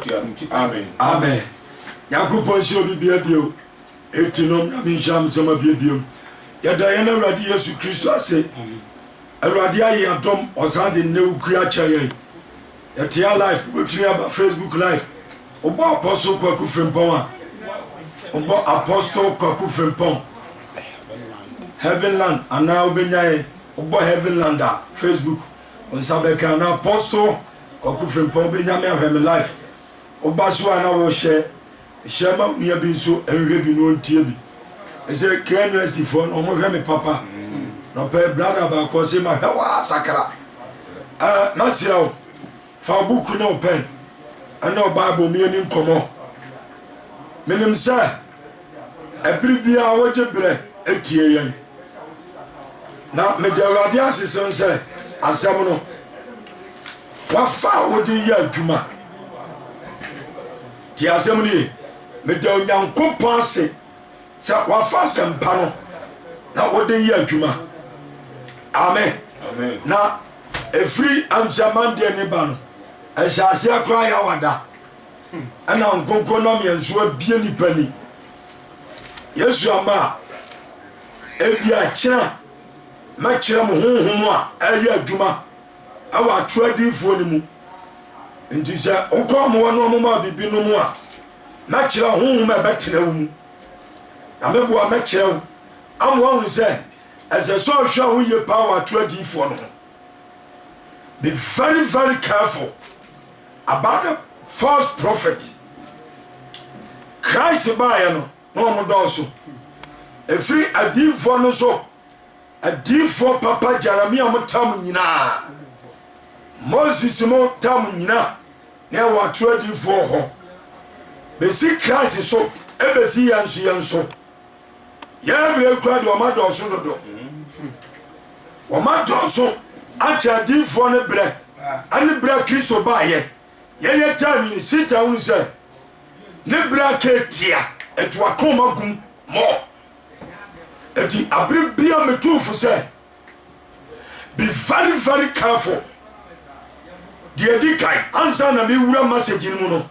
tua no ti amen. Amen Nyankopɔn nhyira obi bia bio eti nom Nyame nhyira mo nsɛm abie biom yɛda yɛn Awurade Yesu Kristo ase Awurade aye adom ɔsan de nnɛ wukuri akyɛ yɛn yɛte a life wobɛtumi aba Facebook life wobɔ Apostle Kwaku Frimpong a wobɔ Apostle Kwaku Frimpong Heavenland anaa wobɛnya yɛn wobɔ Heavenland a Facebook nsa bɛka na Apostle Kwaku Frimpong bɛ Nyame ahwɛ me life wo ba so a na wo hyɛ hyɛ ma wo nua bi nso nhwɛ bi na ontie bi ɛsɛ KNUST foɔ no ɔmo hwɛ me papa na ɔpɛ brada baako ɔse ma hwɛ waa sakra ɛɛ ma sira wo fa wo buku ne wo pɛn ɛne ɔbaabo mieni nkɔmɔ menim sɛ ɛbere biara wogye berɛ atie yɛn na meda awurade ase sen sɛ asɛm no wafa a wode yɛ adwuma te asɛm no ye meda onyankopɔn ase sɛ wafa asɛmpa no na wode yɛ adwuma amen na ɛfiri amsɛmandeɛ ne ba no ɛhyɛ aseɛ koraa yɛ awada ɛna nkonko na mea nso abie nipa ni yesu ama a ebi akyena mɛkyerɛ mo honhom a ɛyɛ adwuma ɛwɔ atwerɛ adiifoɔ no mu nti sɛ wokɔ amoa no ɔmoma biribi no mu a mɛkyerɛ honhom a ɛbɛtena wo mu na meboa mɛkyerɛ wo amoa hunu sɛ ɛsɛ sɛ ɔhwɛ ho yie paa wɔ atwerɛ adiifoɔ no ho be very very careful About the false prophet Christ baeɛ no na wɔn dɔɔso ɛfiri adiifoɔ no so adiifoɔ papa Jeremia mo tam nyinaa Moses mo tam nyina na ɛwɔ ato adiifoɔ hɔ bɛsi Christ so ɛbɛsi yɛn so yɛn so Yɛn mmerɛ yi koraa deɛ wɔn adɔɔso dodo. Wɔn adɔɔso akyɛ adiifoɔ no berɛ ɛne berɛ a Kristo baayɛ. Yɛyɛ taa nwini sita hunu sɛ ne berɛ aka atia ɛto akoma gum mɔ. Eti abere bia metu fo sɛ Be very very careful. Deɛ ɛdi kan ansa na mewura message no mu no,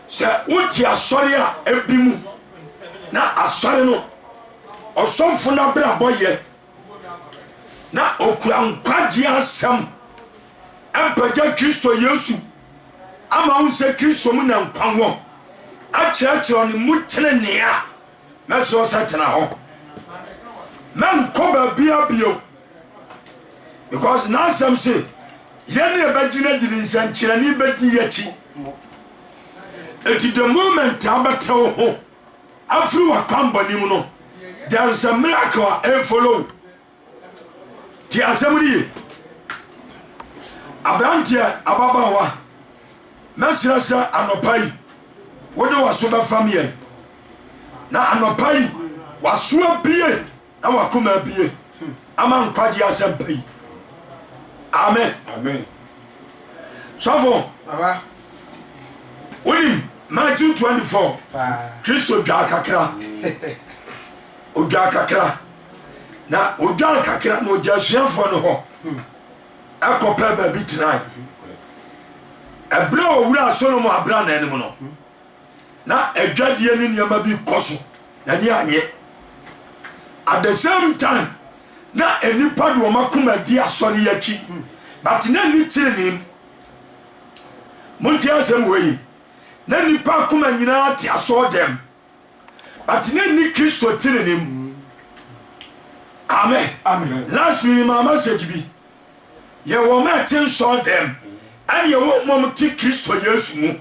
sɛ wote asɔre a ebi mu na asɔre no ɔsɔfo no abrabɔ yɛ na okura nkwagye asɛm mpagya Kristo Yesu ama wo sɛ Kristo mu na nkwa wɔ akyerɛkyerɛ ne mu tenenee a na suro sɛ tena hɔ na nkɔ baabia bio because n'asɛm se yɛne ɛbɛgyina de ne nsɛnkyerɛnne bɛdi yɛakyi ɛti the moment a bɛtɛ wo ho afiri w'akwammɔne mu no there is a miracle a ɛfollow Tie asɛm no ye. Aberanteɛ, ababaawa, mɛsrɛ sɛ anɔpa yi wode w'aso bɛfam yɛn. Na anɔpa yi w'aso abie na w'akoma abie ama nkwagye asɛmpa yi. Amen. Sɔfo, wonim Matthew 24 Kristo dwaa kakra odwaa kakra na odwan kakra na ɔgya asuafoɔ no hɔ ɛkɔ pɛ baabi tenae ɛberɛ a ɔwura solomon abra na anim no na adwadeɛ ne nneɛma bi kɔ so na ni anyɛ at the same time na nnipa de wɔn akoma di asɔre akyi but na ni tirinii monte asɛm wɔ yi na nnipa akoma nyinaa te asɔɔ dɛm but ne nni Kristo tenenee mu. Amen. Amen. Last week maa message bi. Yɛ wɔn a ɛte nsɔɔ dɛm ɛne yɛ wɔn mom te Kristo Yesu mu.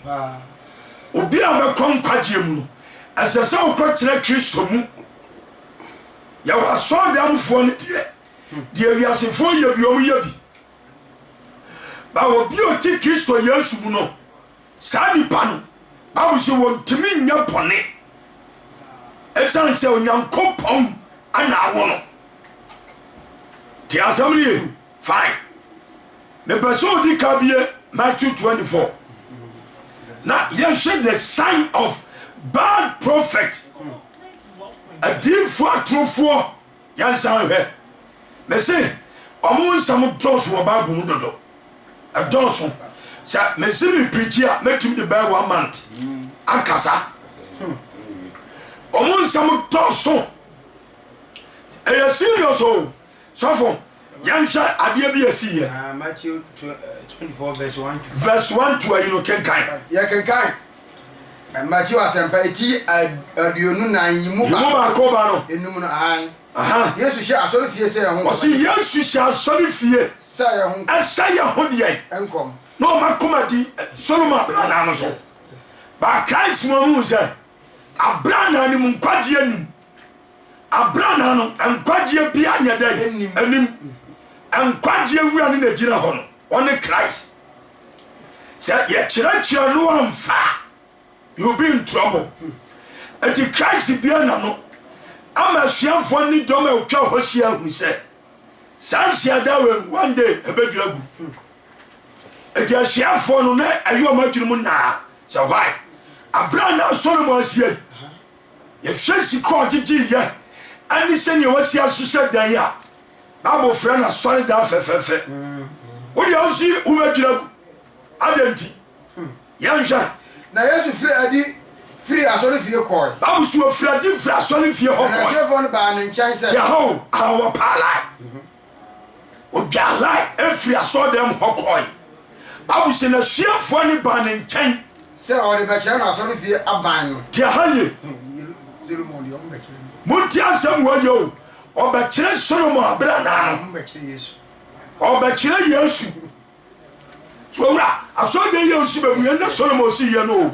Obi a bɛkɔ nkwagyeɛ mu no, ɛsɛ sɛ wokɔ tena Kristo mu. Yɛ wɔ asɔɔ dɛmfoɔ no deɛ, deɛ wiasefoɔ yɛ bi wɔn yɛ bi. Ba obi a ɔte Kristo Yesu mu no, Saa nnipa no, Bible se wɔntumi nyɛ bɔne esiane sɛ Onyankopɔn na awo no. Te asɛm no ye? Fine. Mepɛ sɛ odi ka bie Matthew 24 na yɛhwɛ the sign of bad prophet, adiifoɔ atorofoɔ. Nyansa nhwɛ. Mese ɔmo nsɛm dɔɔso wɔ bible mu dodo. Ɛdɔɔso. Sɛ mese me preachi a mɛtumi de bɛyɛ one month akasa. Ɔmo nsɛm dɔɔso. Ɛyɛ serious o sɔfo. Yɛnhwɛ adeɛ bi a ɛsiiɛ. Verse 1 to ayi no kenkan. Yɛkenkan Mateo asɛmpa eti aduonu nan yi mu baako ba no. Enum no ahan. Yesu hyɛ asɔre fie sɛ yɛn ho. Ɔsi Yesu hyɛ asɔre fie sɛ yɛn ho. Ɛsɛ yɛn ho deɛ. Nkɔm. Na wɔn akoma di Solomon abrannaa no so. Ba Christ mu ɔmo sɛ abrannaa no mu nkwagyeɛ nim. Abrannaa no, nkwagyeɛ biara nyɛ dɛn? Anim. Nkwagyeɛ wura no na ɛgyina hɔ no, ɔne Christ. Sɛ yɛkyerɛkyerɛ no amfa a, you'll be in trouble. Ɛti Christ bia na no ama asuafoɔ ne dɔm a ɛtwa hɔ hyia ahunu sɛ saa nhyiada wei one day ɛbɛdwira gu. Ɛti asuafoɔ no na ɛyɛ ɔmo adwene mu naa sɛ why? Abrannaa Solomon asie yi, Yɛhwɛ sika a ɔde dii yɛ ne sɛnea wasi ahyehyɛ dan a, Bible frɛ no asɔredan fɛfɛɛfɛ. Wo deɛ wo nso yi wo bɛdwira gu. Adɛn nti? Yɛnhwɛ. Na Yesu firi adi firii asɔrefie kɔɔe. Bible se wɔfirii adi firii asɔrefie hɔ kɔɔe. Na n'asuafoɔ no baa ne nkyɛn sɛ. Yɛhɔ o, aha wɔpaalae. Ogyaa line firii asɔɔdan mu hɔ kɔɔe. Bible se, N'asuafoɔ no baa ne nkyɛn. Sɛ ɔde bɛkyerɛ no asɔrefie aban no. Te aha ye. Solomon deɛ ɔmbɛkyerɛ no. Montie asɛm wei ye o. Ɔbɛkyerɛ Solomon aberɛ anaa no. Ɔmbɛkyerɛ Yesu. Ɔbɛkyerɛ Yesu. So wura asɔrdan yi a osi bɛ mu yɛ na Solomon si yɛ no o?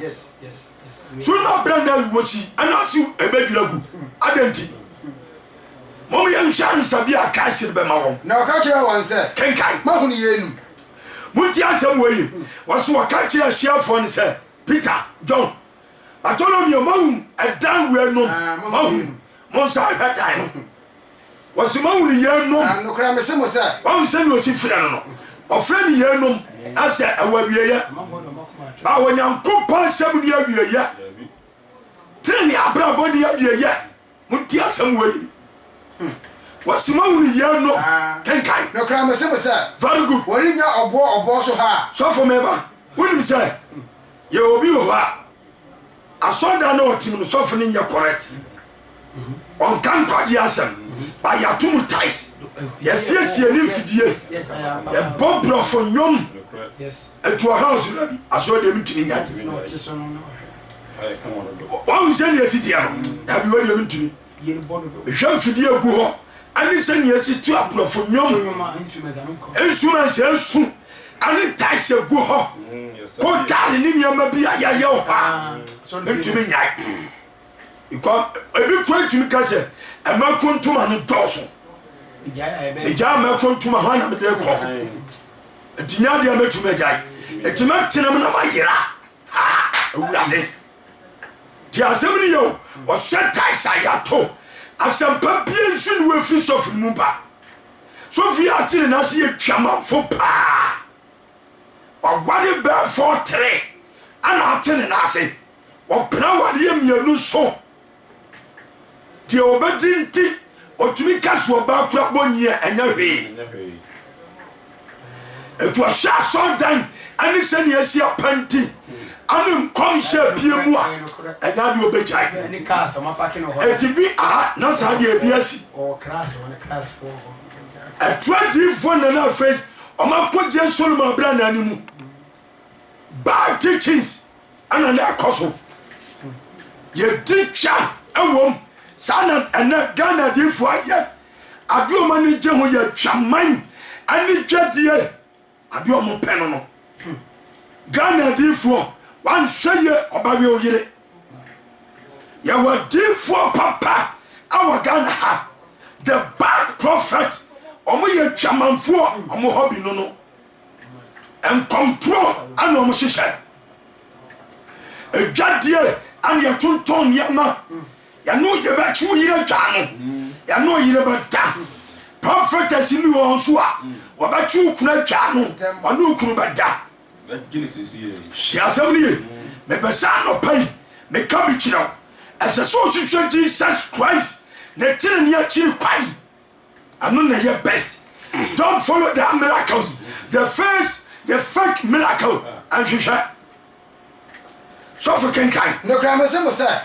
So na abɛn na wosi anaase ebedwira gu? Adɛn nti? Mom yɛnhwɛ ansa bi a Christ no bɛma wɔn. Na ɔka kyerɛɛ wɔn sɛ, Kenkan. Moahunu yeinom? Montie asɛm wei ye. Wɔso wɔka kyerɛɛ asuafoɔ no sɛ, Peter, John, Bartolomeo, moahunu ɛdan weinom? Moahunu? Monsan nhwɛ dan no. Wɔse moahu no yeinom. Na nokorɛ mese mo sɛ. Wahu sɛdeɛ ɔsi frɛ no no. Ɔfrɛ no yeinom, na sɛ ɛwɔ awieɛ. Ba Onyankopɔn asɛm ni awieɛ. Tenenee abrabɔ ni awieɛ. Monti asɛm wei. Hmm. Wɔse moahu no yeinom. Kenkan. Nokorɛ mese mo sɛ. Very good. Wɔrennya ɔboɔ ɔboɔ so ha. Sɔfo meba, wonim sɛ yɛwɔ obi wɔ hɔ a. Asɔrdan na ɔtim no sɔfo no nyɛ correct ɔnka nkwagye asɛm ba yɛato mu tais yɛsiesie ne mfidie yɛbɔ borɔfo nnwom ɛtu ɔhaw so da bi asɔre deɛ mentumi nya wahu sɛ neɛ siteɛ no dabi wadeɛ mentumi Hwɛ mfidie agu hɔ ɛne sɛ nea ɛsi tu aborɔfo nnwom nsuma nhyɛ nsu ɛne ntaes agu hɔ kotare ne nneɛma bi a yɛayɛ wɔ hɔ a ah, ntumi nyae ebi kura ntumi ka sɛ ɛma kontoma no dɔɔso megyaa mɛ kontoma hɔ na mede kɔ ɛtinya deɛ mɛtumi agyae ɛtumi atenam na mayera awurade Tie asɛm no yie o, ɔhyɛ taes a yɛato asɛmpa biara nsu na wafiri sɔfo no mu ba. Sɔfo yi ate ne nan ase yɛ Twamanfo paa. Waware bɛɛ fɔɔtere ɛna ate ne nan ase. Ɔpena awareɛ mmienu so. Deɛ ɔbɛdi nti ɔtumi ka so ɔbaa kura bɔ nyi a ɛnyɛ hwee. Ɛtu ɔhyɛ asɔndan ɛne sɛnea ɛsi apɛnti ɛne nkɔmhyɛ pie mu a ɛnyɛ adeɛ ɔbɛgyae. Ɛti bi aha na saa deɛ ɛbi asi. Ɛtu adiifoɔ na na afei ɔmakɔgye Solomon abira na animu. Bad teachings. ɛna na ɛkɔ so yɛdi twa ɛwom saa na ɛnɛ ghana adiifoɔ ayɛ adeɛ ɔma ne gye ho yɛ twaman ɛne dwadie adeɛ ɔmo pɛ no no ghana adiifoɔ wanhwɛ yɛ ɔba wɛ oyere yɛwɔ adiifoɔ papa ɛwɔ ghana ha the bad prophet ɔmo yɛ twamanfoɔ ɔmo hɔ bi no no Nkɔmtorɔ ɛna wɔn hyehyɛ. Edwadie ɛna yɛtontɔn nneɛma. Yɛne oyere bɛkye oyere atwa ano. Yɛne oyere bɛda. Prophetess bi wɔ hɔ nso a wɔbɛkye okunu atwa ano. Ɔne okunu bɛda. Te asɛm no ye. Mepɛ sɛ anɔpa yi meka bi kyerɛ wo. Ɛsɛ sɛ wohwehwɛ Jesus Christ ne tenenee akyiri kwan. Ano na ɛyɛ best. Don't follow their miracles. The face, the fake miracle. Nhwehwɛ. Sɔfo kenkan. Nokora mese mo sɛ,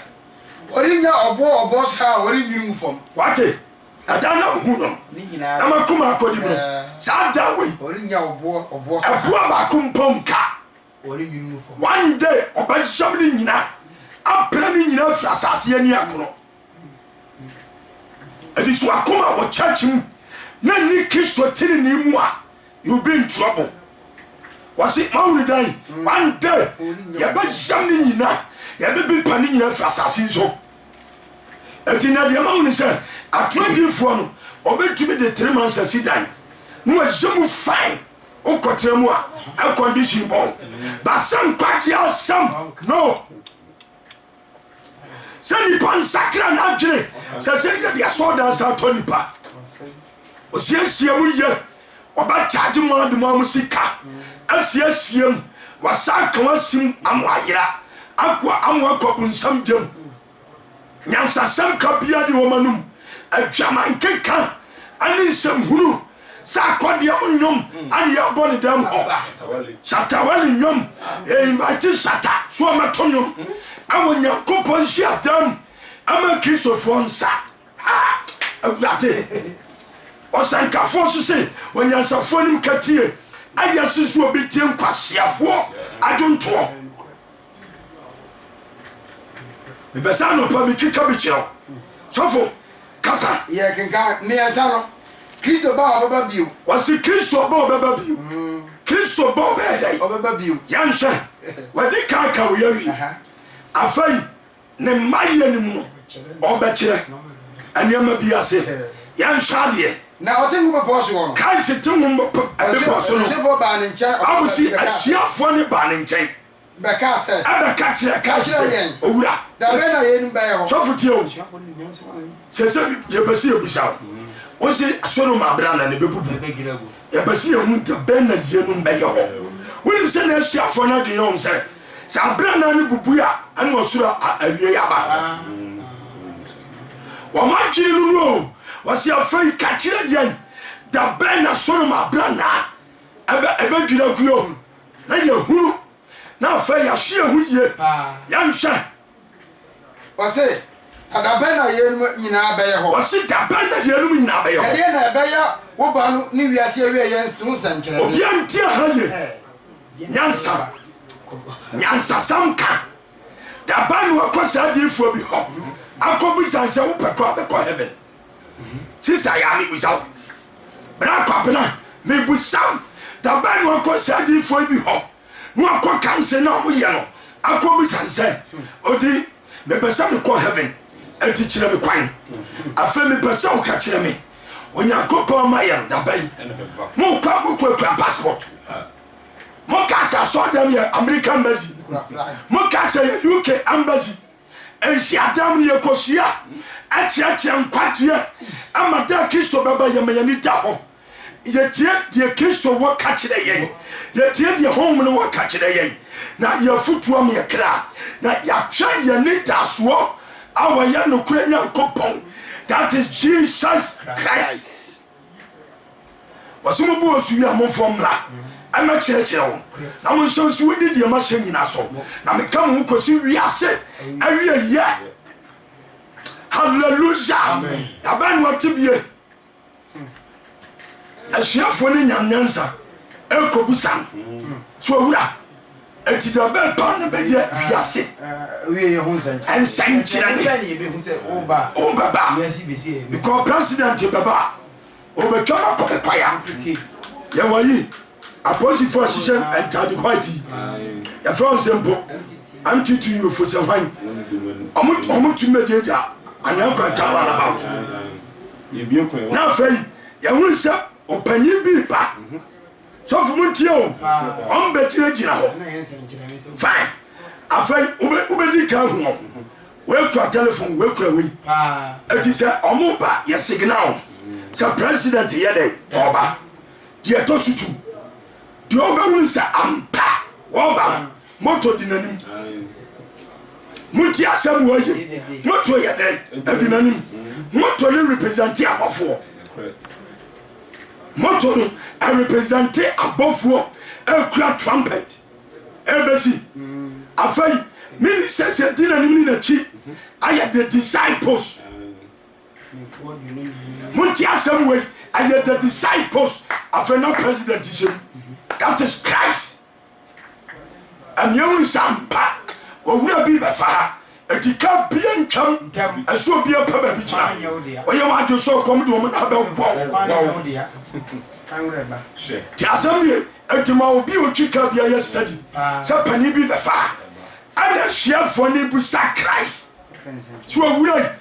wɔrennya ɔbo wɔ ɔbo so a wɔrennwene ngu fam. Wate? Ɛda na ohu no. Ne nyinaa. Na m'akoma akodi mu no. Saa da wei. Wɔrennya ɔbo wɔ ɔbo so a. Ɛboɔ baako mpo nka. Wɔrennwene ngu fam. One day ɔbɛyam ne nyinaa. Apira ne nyinaa afiri asase ani ɛkono. Anisoakom a wɔ church mu na nni Kristo tenenee mu a, you'll be in trouble. Wɔse, moahunu dan yi? One day, yɛbɛyam ne nyina, yɛbɛpepa ne nyina afiri asase yi so. Enti na deɛ mahu ne sɛ, atoro adiifoɔ no, wɔbɛtumi de three months asi dan, na wɔayɛ mu fine, wokɔtena mu a, air condition bɔn, but sɛ nkwagyeɛ asɛm, no. sɛ nipa nsakra n'adwene sɛ sɛ yɛde asɔɔ dansa atɔ nipa osiesie mu yɛ wɔbɛkyagye mu ade mu a mo sika asiesie mu wasa ka wasim amo ayera ako amo akɔ bonsam gyam nyansasɛm ka bia ne wɔn anum adwaman keka ɛne nsɛm hunu Sɛ akɔdeɛ mu nnwom ana yɛbɔ ne dɛm hɔ Shatta Wale nnwom yɛ invite Shatta so ɔmɛto nnwom ɛwɔ Nyankopɔn nhyia dɛm ɛma Kristofoɔ nsa ha awurade ɔsɛnkafoɔ so se onyansafoɔ nim katie ayɛ se so obi tie nkwaseafoɔ adwontoɔ mepɛ sɛ anɔpa metwitwa bi kyerɛ wo sɔfo kasa yɛ kenka mmiɛnsa no kristo ba a ɔbɛba bio wɔse kristo ba ɔbɛba bio mm. kristo ba ɔbɛyɛ dɛn ɔbɛba bio yɛnhwɛ wadi kan ka wo yɛwie afei ne mmayɛ no mu no ɔbɛkyerɛ nneɛma bi ase yɛnhwɛ adeɛ na ɔte ho bepɔ so hɔ no christ te ho bepɔ so no ɔbɛsi asuafoɔ ne baa ne nkyɛn bɛkaa sɛ. Ɛbɛ ka kyerɛɛ Kas sɛ, Owura, sɔfo tie o, sɛ sɛ yɛpɛ sɛ yɛbisa wo, wo se Sodom abera na ne bɛbubu, yɛpɛ sɛ yɛhu da bɛn na yienom bɛyɛ hɔ. Wonim sɛ na asuafoɔ no adwen yɛ wɔn sɛ, sɛ abera na no bubui a, ɛna ɔsoro awiei aba. Wɔn adwen no no o, wɔse afei ka kyerɛ yɛn da bɛn na Sodom abera na ɛbɛdwiri agu o. na yɛahunu, na afei yɛahye yɛn ho yie, yɛnhwɛ. Ɔse, Na da bɛn na yeinom nyinaa bɛyɛ hɔ? Ɔse, Da bɛn na yeinom nyinaa bɛyɛ hɔ? Ɛdeɛn na ɛbɛyɛ wo ba no ne wiase awieɛ nsi ho nsɛnkyerɛnne? Obiara nti aha yie. Nyansa. Nyansasɛm ka. Da bɛn na wakɔ saa adiyifoɔ bi hɔ akɔbisa no sɛ, Wopɛ kɔ a bɛkɔ heaven? Sista ya mebisa wo. Bra Kwabena mebisa wo da bɛn na wakɔ saa diifoɔ bi hɔ na wakɔ ka nsɛn na ɔmo yɛ no akɔ bisa nsɛn odi mepɛ sɛ mekɔ heaven ɛti kyerɛ me kwan afei mepɛ sɛ wo ka kyerɛ me Onyankopɔn ma yɛ no da bɛn mo kɔ a mo kɔ kura passport mo ka sɛ asɔɔdɛm yɛ American embassy mo ka sɛ yɛ UK embassy Nhyiadan mu yɛkɔhyia kyerɛkyerɛ nkwagyeɛ ma da a Kristo bɛba yɛma yɛani da hɔ. Yɛtie deɛ Kristo wɔ ka kyerɛ yɛn, yɛtie deɛ Honhom no wɔ ka kyerɛ yɛn na yɛafutuam yɛn kra na yɛatwɛn yɛn anidasoɔ a ɔyɛ nokorɛ Nyankopɔn that is Jesus Christ. Wɔse mo bo ɔsu wie a momfoɔ mmra ɛmɛ kyerɛkyerɛ wɔn na mo nhyɛ nso wɔdi deɛ mahyɛ nyina so na meka mo ho kɔsi wiase awie yɛ hallelujah na bɛn no ɔte bie asuafoɔ no nya nyansa ɛkɔbu sa no so awura Enti deɛ ɔbɛba no bɛyɛ wiase nsɛnkyerɛnne. Wobɛba, because president bɛba a, ɔbɛtwam akɔ me kwaya. Yɛwɔ yi, apolisifoɔ ahyehyɛ ntaade white yi, yɛfrɛ wɔn sɛ mpo MTT yofo sɛ hwan, wɔn tumi bɛgyagya anaa kwanta run about. Na afei, yɛhunu sɛ ɔpanyin bi ba. Sɔfo mo ntie o, wɔn bɛ gyina gyina hɔ. Fine, afei wo bɛ di kan hu wɔn. Wei kura telefon, wei kura wei. Eti sɛ wɔn ba yɛ signal sɛ president yɛ dɛ ɔba. Deɛ ɛtɔ so tu, deɛ ɔbɛwuni sɛ ampa ɔba no, moto di n'anim. Monti asɛm wɔ ye, moto yɛ dɛ adi n'anim. Moto ne representi abɔfoɔ. Moto no represente abɔfoɔ ɛkura trumpet ɛbɛsi. Afei mini sɛsi ɛdi n'anim ne n'akyi ayɛ the disciples. Monti asɛm wei ɛyɛ the disciples. Afei na president hyɛ mu that is Christ. Ɛneɛ wo nsa mpa owura bi bɛfa ha ɛti ka bia ntwam ɛsɛ obi apɛ baabi tena ɔyɛ wɔn adwe sɛ ɔkɔm de wɔn na abɛ wɔw te asɛm nie ɛti ma obi otwi ka bia yɛ study sɛ panin bi bɛfa ha ɛna asuafoɔ ne bu sa Christ so owura yi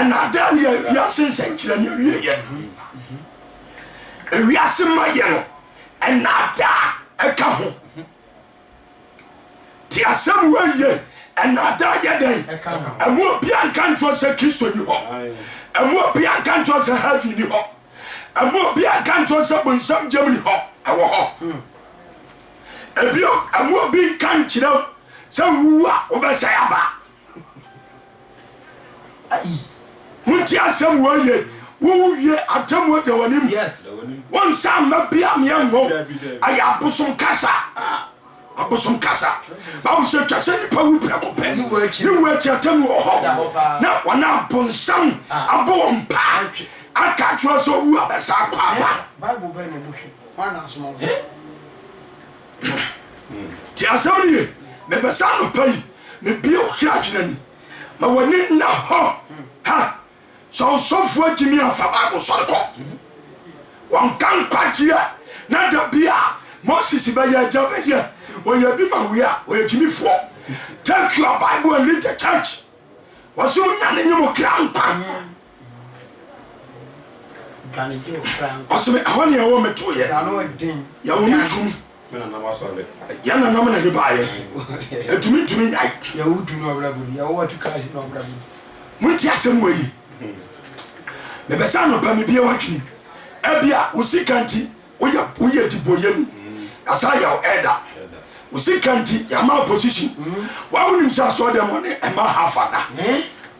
Nnaadaa ne yɛ wiase nsɛnkyerɛnne awieɛ. Ewiase mayɛ no, nnaadaa ɛka ho. Te asɛm wei ye, nnaadaa yɛ dɛn? Ɛmu obia nka nkyerɛ sɛ Kristo ni hɔ. Ɛmu obia nka nkyerɛ sɛ heaven ni hɔ. Ɛmu obia nka nkyerɛ sɛ bonsam gyam ni hɔ, ɛwɔ hɔ. Ebio, ɛmu obi nka nkyerɛ sɛ wowu a wobɛsɛe aba. Montie asɛm wei ye, wowu wie atemmuo da w'anim. Wonsa mma bi a meɛ nwo. Ɛyɛ abosom kasa. Abosom kasa. Bible sɛ twa sɛ nipa wu prɛko pɛ. Ne wu akyi atemmuo wɔ hɔ. Na wɔn a bonsam abɔ wɔn paa aka akyerɛ sɛ owu abɛsa akɔ aba. Tie asɛm no yie. Mepɛ sɛ anɔpa yi mebue wo kra adwene ani ma w'ani nna hɔ. Ha! Sɛ ɔsɔfoɔ atumi amfa Bible sɔre kɔ, wɔnka nkwagyeɛ na da bi a Moses bɛyɛ agya bɛyɛ wɔyɛ bi ma wei a wɔyɛ gyimifoɔ. Take your Bible and leave the church. Wɔsɛ mo nya ne nye mo kra nkwa. ɔsɛ me ɛhɔ neɛ wɔ metoeɛ yɛwɔ me turom yɛ nanam na ne baayɛ ɛtumi ntumi nyae monti asɛm wɔ yi mebɛsɛ anɔpa mebia wadwene ebia wo sika nti Woyɛ woyɛ dibɔyɛni na saa yaw ɛda wo sika nti yama opposition wa wonim sɛ asɔɔ dɛm ɔne ɛma ha fada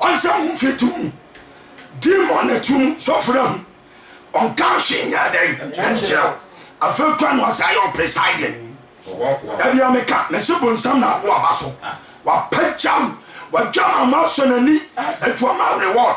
ɔnsɛ ho mfe to mu di ma ɔne to mu sɔfra ho ɔnka hwe nyɛ dɛn ɛnkyerɛw afɛ kura no asa yɛ presiding dabia meka mese bonsam na aboa ba so wapagyaw wadwa ma ma asɔ n'ani atuama reward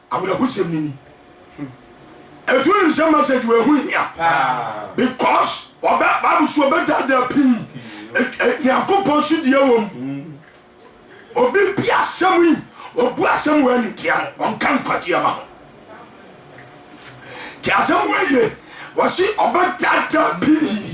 Awerɛhosɛm no ni. Ɛtu wonim sɛ message wɔ ɛho hia because ɔbɛ Bible so ɔbɛdaadaa pii. Nyankopɔn so deɛ wɔ mu. Obi bi asɛm yi obu asɛm wɔ ɛne tia no ɔnka nkwagye ama ho. Ti asɛm wɔ yie wɔsi ɔbɛdaadaa pii.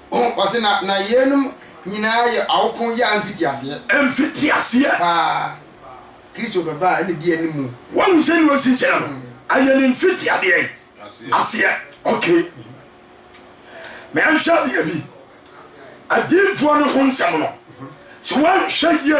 Ho, ɔse na na yeinom nyinaa yɛ awoko yea mfitiaseɛ. Mfitiaseɛ. Paa. Kristo bɛba a ɛna di anim. Wahu sɛdeɛ ɔsi kyerɛ no, ɛyɛ ne mfitiadeɛ aseɛ. Ok. Ma yɛnhwɛ adeɛ bi. Adiyifoɔ no ho nsɛm no, sɛ woanhwɛ yie.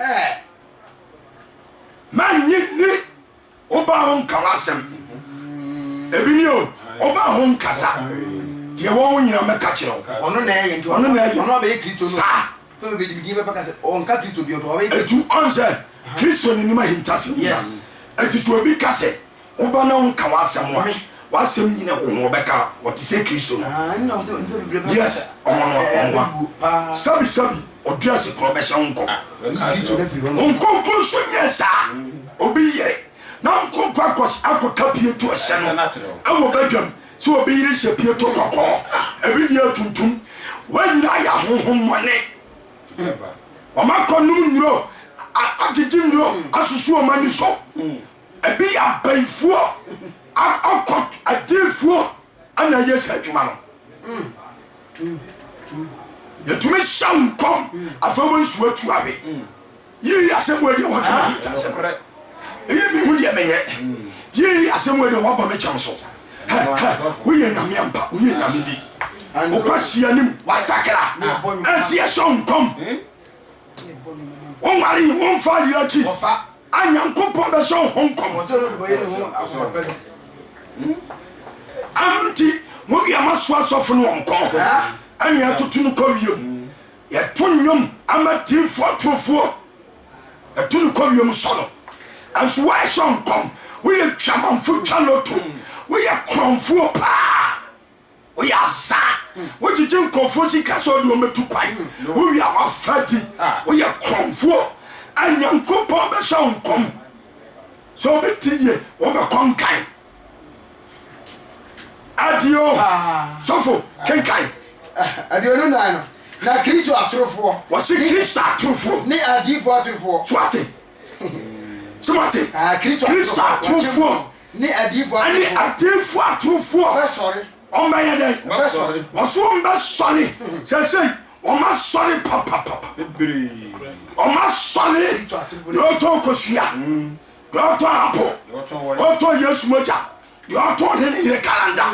Ɛɛ. Mannye nni wo ba ho nka w'asɛm. Ebi ni o, wo ba ho nkasa. Deɛ ɛwɔ ho nyinaa mɛka kyerɛ wo. Ɔno na ɛyɛ nti, ɔno na ɛyɛ. Ɔno abɛyɛ Kristo no. Saa. Afei ɔbɛdi me din pɛpɛ aka sɛ ɔnka Kristo bio nti ɔbɛyɛ Kristo. Etu ɔn sɛ Kristo n'anim ahintasɛm nyinaa. Yes. Enti sɛ obi ka sɛ Wo ba na ɔnka w'asɛm wɔ me. W'asɛm nyina wo ho ɔbɛka ɔte sɛ Kristo no yes ɔmɔ no ɔmoa sɛbi sɛbi ɔdua se korɔ bɛhyɛ wo nkɔ wo nkonkro nso nyɛ saa obi yere na wo nkonkro akɔ akɔ ka pieto ɛhyɛ no ɛwɔ badwam sɛ obi yere hyɛ pieto kɔkɔɔ ebi deɛ atuntum wɔn nyinaa yɛ ahohom mɔne wɔn akɔ nom nnuro agyegye nnuro asusu wɔn ani so Ebi yɛ abayifoɔ a ocult adiifoɔ na ɛyɛ saa adwuma no. Yɛtumi hyɛ wo nkɔm afei wo nso atu awe. Yii asɛm wei deɛ wɔka me ntasɛm. Eyi mehu deɛ menyɛ. Yii asɛm wei deɛ wɔabɔ me kyɛm so. Woyɛ nyame ampa, woyɛ nyame bi. Wokɔ si anim, wasakra. Ɛnsi yɛhyɛ wo nkɔm. Wonware, womfa yere akyi. A Nyankopɔn bɛhyɛ wo ho nkɔm. Ɛno nti, mo deɛ moaso asɔfo no wɔn kɔn ho, ɛne atoto no kɔ wiem. Yɛto nnwom ama diifoɔ atorofoɔ, yɛto no kɔ wiem sɔ no. Ɛnso woahyɛ nkɔm, woyɛ dwamanfo twa loto, woyɛ korɔmfoɔ paa. Woyɛ asaa, wogyegye nkurɔfoɔ sika sɛ wode wɔn bɛtu kwan, wowia w'afadi, woyɛ korɔmfoɔ. A Nyankopɔn bɛhyɛ wo nkɔm sɛ wɔbɛte yie, wɔbɛkɔ nkan. Adio, sɔfo, kenkan. Aduonu nan no, na Kristo atorofoɔ. Wɔse Kristo atorofoɔ. Ne adiyifoɔ atorofoɔ. So ate? Sɛ wate? Kristo atorofoɔ. Ne adiyifoɔ atorofoɔ. Ɛne adiyifoɔ atorofoɔ. Wɔbɛsɔre. Wɔbɛyɛ dɛn? Wɔbɛsɔre. Wɔso wɔbɛsɔre. Seesei, wɔasɔre papapapa. Bebree. Wɔasɔre. Deɛ ɔtɔn kosua. Deɛ ɔtɔn apo. Deɛ ɔtɔn Yesu mogya. Deɛ ɔtɔn ne ne yere kalanda.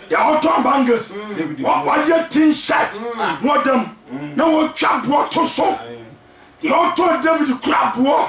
Deɛ ɔtɔn bangles. Wɔayɛ tin shirt na ɔda mu. Na wɔatwa boɔ to so. Deɛ ɔtɔn David kura boɔ.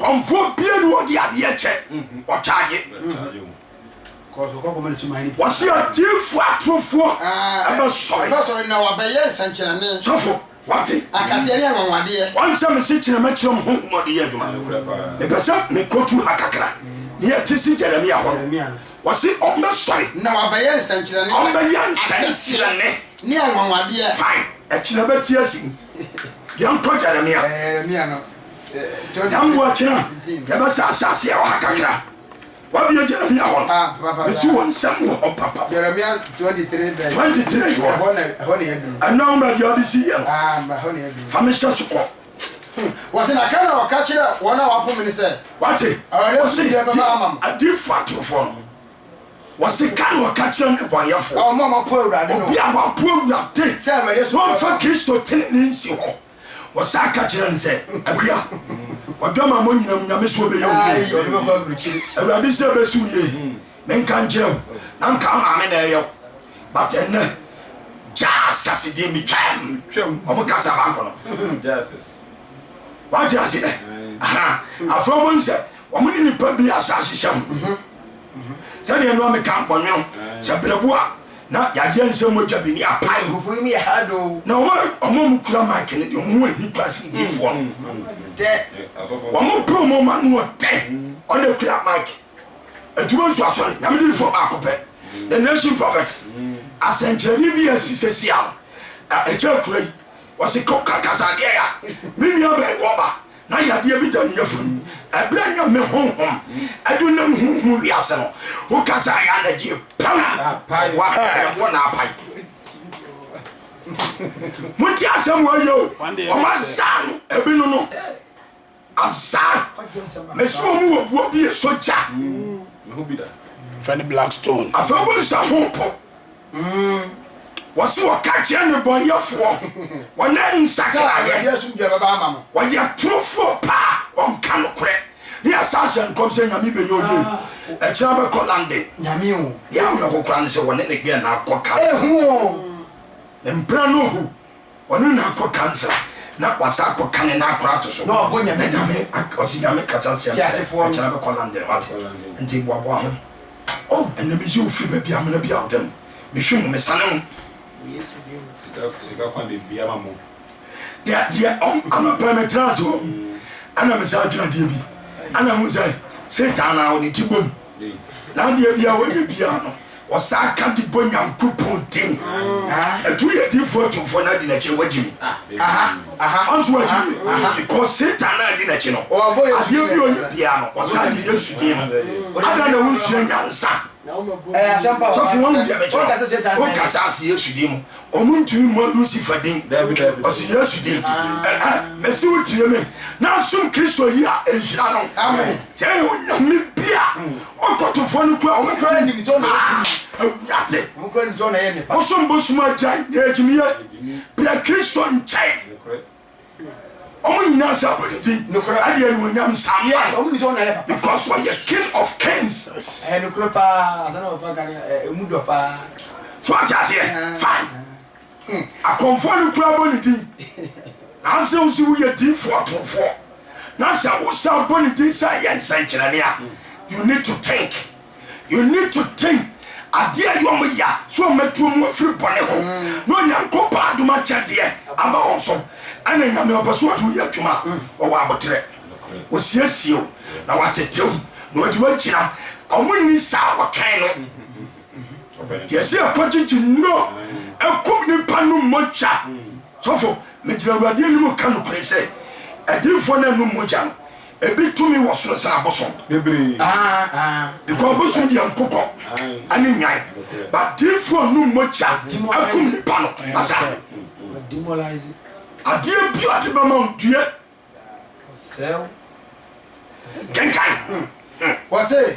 Kɔmfoɔ bie ne ɔde adeɛ kyɛ, ɔkyaagye. Wɔse adiifoɔ atorofoɔ bɛsɔre. Sɔfo, wate? Wansɛ mese kyena mɛkyerɛ mo honhom ɔde yɛ adwuma. Mepɛ sɛ mekɔtu ha kakra. Ne yɛte si Jeremia hɔ no, wɔse ɔmbɛsɔre. Ɔmbɛyɛ nsɛnkyerɛnne. Fine, ɛkyena bɛte asi mu. yɛnkɔ jeremia dɛm wɔkyena yɛbɛsɛ asase a ɔha kakra wabie jeremia hɔ no ɛsi wɔ nsɛm wɔ hɔ papa 23 hɔ ɛna wo baabi a wode si yɛ no fa mehyɛ so kɔ wɔsi na kan na wɔka kyerɛ wɔn a wɔapo me no sɛ. wate wɔsi ti adifo atorofo no Wɔseka na wɔka kyerɛ nnebɔneyɛfoɔ. Wɔn a wɔapo Awurade no. Obi a wapo Awurade. Sɛ mede soɔ bɛba. Wɔmfa Kristo tenenee nsi hɔ. Wɔsan ka kyerɛ no sɛ, Akua, w'adwamammɔ nyinaa mu Nyame soɔ bɛyɛ wo yie. Ɔde bɛkɔ aburukyire. Awurade sɛ ɛbɛsi wo yie. Menka nkyerɛ wo, na anka wo maame na ɛyɛ wo. But ɛnnɛ, Jasus deɛ metwaam. Wɔn kasa baako no. Jasus. Wate aseɛ? Aha. Afei wɔn sɛ, Wɔn ne nnipa bi asaasehyɛ ho. Sɛdeɛ no a meka bɔne ho sɛ berɛbo a na yɛayɛ nsɛ mogya bi ne apae. Nkurɔfoɔ yi mu yɛ hard o. Na wɔn a wɔn a wɔkura mic no deɛ wɔn ho ahi paa sen diifoɔ no. Dɛ. Wɔn pɛ wɔn ma no wɔ dɛ. Wɔn na kura mic. Adwuma nso asɔre nyame diifoɔ baako pɛ. The nation prophet. Asɛnkyerɛnne bi a asi sɛsi a ɛkyɛ akura yi wɔsi kɔ kasa adeɛ ya. Me nua bɛn wɔba na yadeɛ bi da me yafunu mu. Ɛberɛ a Nyame Honhom adu nam huhu wiase no, wo ka sɛ ayɛ anagyeɛ pam wa brɛboɔ na apae. Mo te asɛm wɔ yɛ o, wɔn azaa no ebi no no. Azaa, mesi wɔn wɔ buo bi esɔ gya. Fɛ ne black stone. Afɛ wo nsa ho po. Wɔse wɔka kyerɛ nnebɔneyɛfoɔ wɔn a nsakraeɛ, wɔyɛ torofoɔ paa, wɔnka nokorɛ. Ne asan hyɛ nkɔm sɛ Nyame bɛyɛ ɔyie, akyire abɛkɔ London. Deɛ awerɛho koraa ne sɛ wɔne ne gɛɛ no akɔ Cancer. Mpra no hu Ɔno na akɔ kansla na wasan akɔ kane na akora ato so. Na ɔbɔ nyame din. Na nyame ak ɔse nyame ka kyerɛ seɛm sɛ ɛkyena bɛkɔ London wate nti boaboa ho oh ɛnɛ mese ofiri baabi amena bi a ɔde no mehwe mu mesane mu. Wɔ yesu din mu. Sika sika kwan bebia ma mo. Deɛ deɛ ɔm anɔpɛ me tena ase hɔ ɛna me saa dwene adeɛ bi ɛna hu sɛ satan na ɔde ti bom. Na adeɛ biaa wɔyɛ biaa no wɔsaa ka de bɔ Nyankopɔn din. Ɛto yɛ diifoɔ atumfoɔ na adi n'akyi wɔagye mu. Ɔn so wɔagye mu yɛ because Satan na adi n'akyi no adeɛ biaa ɔyɛ biaa no wɔsaa de Yesu din no. Adɛn na wonsua nyansa? Sɔfo wahu deɛ mekyerɛ wo? Woka saa se Yesu din mu. Ɔmo ntumi mmɔ Lucifer din. Ɔse Yesu din. Ɛhɛn, mese wo tie me na som Kristo yi a nhyira no. Sɛ ɛyɛ onyame bi a, ɔkɔtofoɔ no kura ɔmo din. Ah, awurade. Wosom bosom agyae, yɛ gyimie. Brɛ Kristo nkyɛn. Wɔn nyinaa sɛ abɔ ne din. Nokorɛ. Ɛde animuonyam nsa. Yes, wɔn nim sɛ ɔno na ɔyɛ papa. Because ɔyɛ king of kings. Yes. Ɛyɛ nokorɛ paa, asɛm na papa ka no ɛmu dɔ paa. So ate aseɛ? Fine. Akɔmfoɔ no koraa bɔ ne din. Nanso wo se woyɛ diifoɔ torofoɔ na sɛ wosan bɔ ne din sɛ ɛyɛ nsɛnkyerɛnne a, you need to think. You need to think adeɛ a yɔm ya so wɔn atuo mu afiri bɔne ho na Onyankopɔn adom akyɛdeɛ ama wɔn so ɛna Nyame ɔpɛ so ɔde wo yɛ adwuma ɔwɔ aboterɛ ɔsiesie wo na watete wo na ɔde wagyina wɔn nni saa wɔtwɛn no deɛ sɛ ɛkɔ gyegye nnuro ɛkum nipa no mmogya sɔfo megyina awurade anim ka nokorɛ sɛ adiifoɔ no anum mogya no Ebi tumi wɔ soro sen abosom bebree. Ah ah. Because abosom deɛ nkokɔ ɛne nyan. But diifoɔ num mogya ɛkum nipa no. Asa. Adeɛ bi ɔde bɛma wo due. Ɔsɛw. Kenkan. Wɔse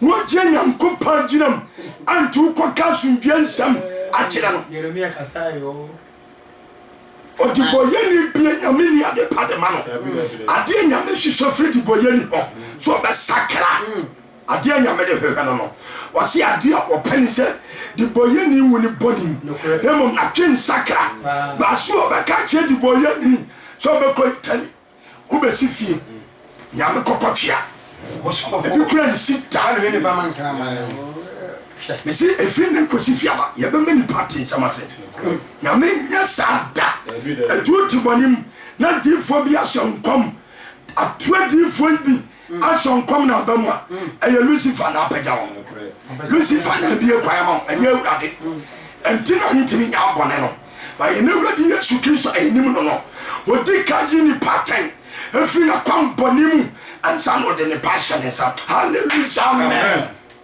Wogye Nyankopɔn gyina mu anto wo kɔka asomdwoeɛ nsɛm akyerɛ no. Yeremia kasae oo. Ɔdebɔyɛni bie Nyame ni ade pa de ma no. Adeɛ Nyame hwehwɛ firi debɔyɛni hɔ so ɔbɛsakra. Adeɛ Nyame de hwehwɛ no no. Wɔse adeɛ a wɔpɛ ne sɛ debɔyɛni nwu ne bɔne mu na mmom natwe nsakra. Baa so ɔbɛka akyerɛ debɔyɛni sɛ ɔbɛkɔ eternity. Wo besi fie Nyame kɔkɔ tua Ebi kura nsi taa na ɔyɛ ne ba ma nkraman Mesi efi ne kosi fiaba yɛ bɛ mɛ nipa te nsɛm ase Nyame nyɛ saa da Etuo te bɔne mu na diifoɔ bi ahyɛ nkɔm Atua diifoɔ yi bi Action nkɔm na aba mu a, ɛyɛ Lucifer na apagya wo. Lucifer na abie kwan ama wo, ɛnyɛ Awurade. Ɛnti na ntumi nyɛ abɔne no. Ba yɛn Awurade Yesu Kristo a yɛnim no no, ɔdi kan yi nipa atɛn firi n'akwammɔne mu ansa na ɔde nnepa ahyɛ ne nsa. Hallelujah! Amen!